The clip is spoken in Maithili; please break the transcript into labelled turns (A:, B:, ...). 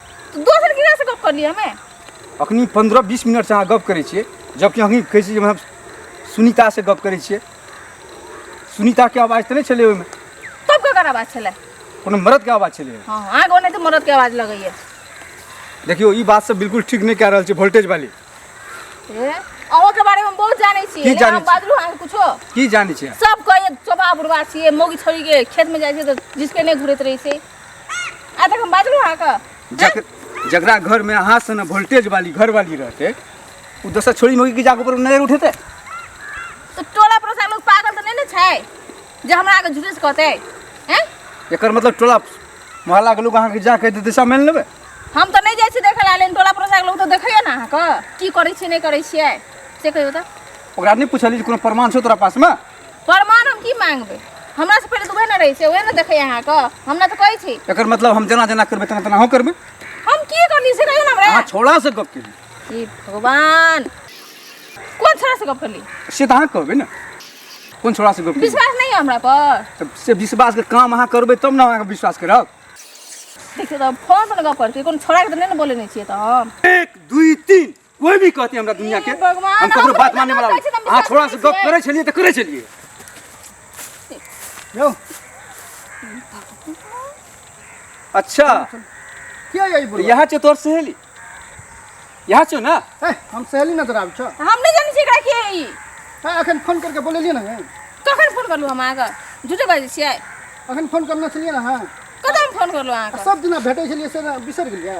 A: तऽ दोसर किराया से गप करलियै हमे अखनी पंद्रह बीस मिनट से अहाँ गप करै छियै जबकि अखनी कहै छियै जे हम सुनीता से गप करै छियै सुनीता के आवाज तऽ नहि छलै ओहिमे तब ककर आवाज छलै कोनो मर्द के आवाज छलै हँ आग ओने तऽ मरद के आवाज लगैया देखियौ ई बात सब बिल्कुल ठीक नहि कए रहल छै वोल्टेज वाली ए अहूँ के बारे में हम बहुत जानै छियै की लेकिन जानै हम छी? बाजलू अहाँ कुछो की जानै छियै सब कहे चोपा बुढ़वा छियै मौगी छोड़ी के खेत में जाइ छै तऽ जिसके नहि घुरैत रहै छै आ तक हम बाजलू अहाँ के जक, जकरा घर में अहाँ से ना वोल्टेज वाली घर वाली रहते वो दोसर छोड़ी मौगी के जाके ऊपर नजर उठेते तो टोला पर से लोग पागल तो नहीं ने छै जे हमरा आगे झूठे से कहते हैं एकर मतलब टोला मोहल्ला के लोग अहाँ के जाके दे दिशा मेल लेबे हम तो नहीं जाइ छी देखै ला लेकिन टोला पर से लोग तो देखैया ना अहाँ के की करै छी नहीं करै छियै से कहियो तऽ ओकरा नहीं पूछली जे कोनो प्रमाण छौ तोरा पास में प्रमाण हम की मांगबै हमरा से पहिले तऽ उहे ने रहै छै उहे ने देखै अहाँ के हम ने तऽ कहै छी एकर मतलब हम जेना जेना करबै तेना तेना अहूँ करबै हम की करली से कहियो ना हमरा अहाँ छोड़ा से गप केली हे भगवान कोन छोरा से गप करली से तऽ अहाँ कहबै ने कोन छोड़ा से गप केली विश्वास नहीं है हमरा पर तब से विश्वास के काम अहाँ करबै तब ने अहाँके विश्वास करब देखियो तऽ फोन पर गप करती कोन छोरा के तऽ नहीं ने बोले नहीं छियै तऽ हम एक दुई तीन कोई भी कहते हमरा दुनिया के हे भगवान, हम ककरो बात माने वाला कहै छी, हम अहाँ छोड़ा से विश्वास गप करै छलियै तऽ करै छलियै यौ अच्छा किया यही तऽ बोल यहाँ छौ तोर सहेली यहाँ छौ ने हम सहेली नजर आबै छ हम नहि जानै छियै एकरा के ई है अखन फोन करके बोलेलियै ना है कखन फोन करलहुँ हम अहाँके झूठे बाजै छियै अखन फोन करने छलियै ना है कतऽ हम फोन करलहुँ अहाँके सब दिना भेटै छलियै से ने बिसरि गेलियै